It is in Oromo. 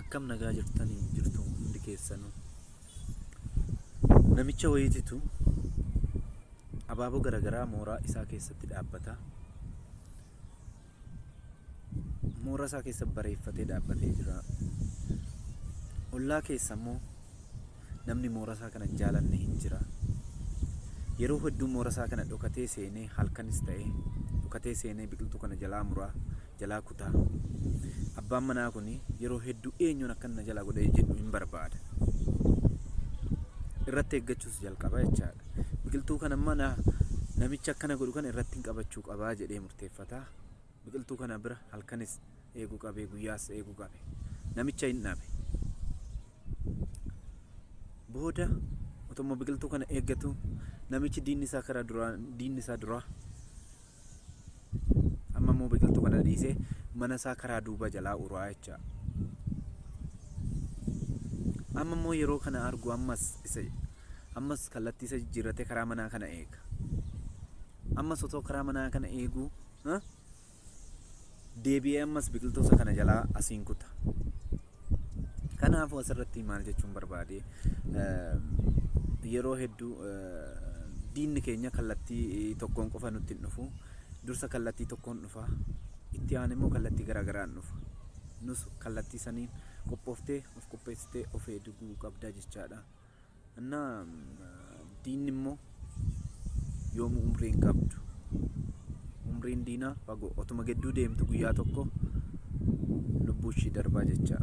akkam nagaa jirtanii jirtu hundi keessanu namicha wayiititu abaaboo garaagaraa mooraa isaa keessatti dhaabbata mooraa isaa keessa bareeffatee dhaabbatee jira ollaa keessa immoo namni mooraa isaa kana jaalanne hin jira yeroo hedduu mooraa isaa kana dhokatee seenee halkanis ta'ee dhokatee seenee biqiltuu kana jalaa muraa jalaa kutaa. Abbaan manaa kun yeroo hedduu eenyuun akkan na jalaa godhee jedhu hin barbaada. Irratti eeggachuus jalqaba jechaadha. Biqiltuu kana mana namicha akkana godhu kana irratti hin qabachuu qabaa jedhee murteeffata. Biqiltuu kana bira halkanis eeguu qabee guyyaas eeguu qabe. Namicha hin dhabe. Booda otoo biqiltuu kana eeggatu namichi diinni isaa karaa duraa diinni isaa duraa amma immoo biqiltuu kana dhiisee mana isaa karaa duuba jalaa uraa jecha amma immoo yeroo kana argu ammas isa ammas kallattii isa jijjiirratee karaa manaa kana eega ammas otoo karaa manaa kana eeguu ha? deebi'ee ammas biqiltoota kana jalaa asiin kuta. Kanaafuu asirratti maal jechuun barbaade yeroo hedduu diinni keenya kallattii tokkoon qofa nutti hin dhufu. Dursa kallattii tokkoon dhufa. Itti aan immoo kallattii garaagaraan dhufa. Nus kallattii saniin qophooftee of qopheessitee of eeguu qabda jechaadha. እና diinni immoo yoomuu umrii hin qabdu. Umriin diinaa fagoo otuma gidduu deemtu guyyaa tokko lubbuu ishii darbaa jechaa.